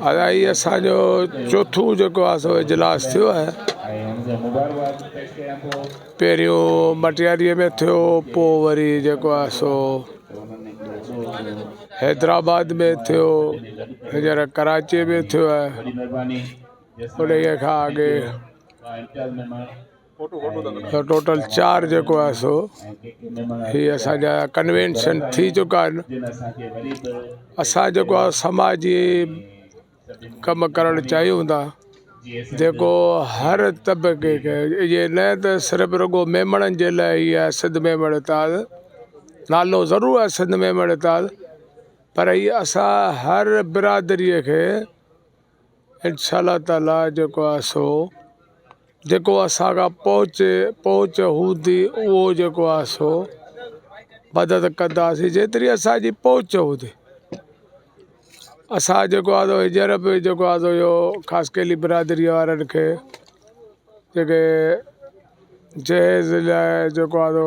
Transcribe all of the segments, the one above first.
ادا هي اسان جو چوٿون جيڪو آهي سو اجلاس ٿيو آهي پهريون مٽياريء ۾ ٿيو پوء وري جيڪو آهي سو حيدرآباد ۾ ٿيو هينئر ڪراچيء ۾ ٿيو آهي انهيء کان اڳي ٽوٽل چار جيڪو آهي سو هي اسانجا ڪنوينشن ٿي چڪا آهن اسان جيڪو آهي سماجي ڪم ڪرڻ چاهيون ٿا جيڪو هر طبقي کي ايئن نه ته صرف رڳو ميمڻن جي لاء هي آهي سنڌ ميمڻ اتحاد نالو ضرور آهي سنڌ ميمڻ اتحاد پر هي اسان هر برادريء کي انشاء الله تعالي جيڪو آهي سو جيڪو اسان کان پهچ پهچ هوندي اهو جيڪو آهي سو مدد ڪنداسي جيتري اسانجي پهچ هوندي اسان جيڪو آهي هينئر به جيڪو آهي سو اهو خاص ڪري برادري وارن کي جيڪي جهيز لاء جيڪو آهي سو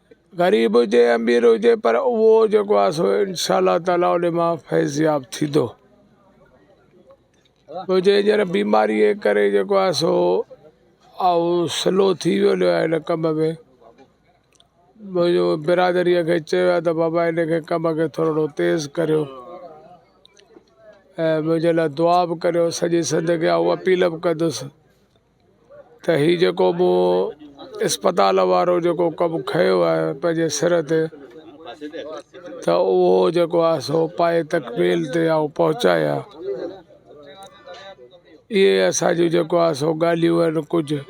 غريب هجي امير هجي پر اهو جيڪو آ سو انشاء الله تعالي ان مان فيضياب ٿيندو تو جي هينئر بيماري جي ڪري جيڪو آ سو آئو سلو ٿي ويو نه هن ڪم ۾ منهنجو برادريء کي چيو آ ته بابا هن کي ڪم کي ٿورڙو تيز ڪريو ۽ منهنجي لاء دعا به ڪريو سڄي سنڌ کي آئون اپيل به ڪندس ته هي جيڪو مون اسپتال وارو جيڪو ڪم کنيو آهي پنهنجي سر تي ته اهو جيڪو آهي سو پائي تڪميل تي آئون پهچايا اهي اسان جون جيڪو آهي سو ڳالهيون آهن ڪجهه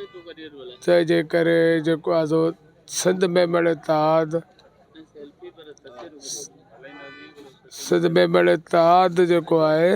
تنهن جي ڪري جيڪو آهي سو سنڌ ميمڻ اتحاد سنڌ ميمڻ اتحاد جيڪو آهي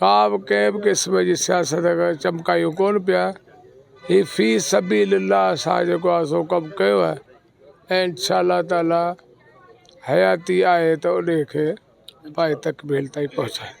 ڪا به ڪنهن به قسم جي سياست اگر چمڪايون ڪون پيا هي في سبيل الله اسان جيڪو آهي سو ڪم ڪيو آهي ۽ انشاء الله تعالي حياتي آهي ته انهي کي پايي تڪميل تائين پهچائينداسين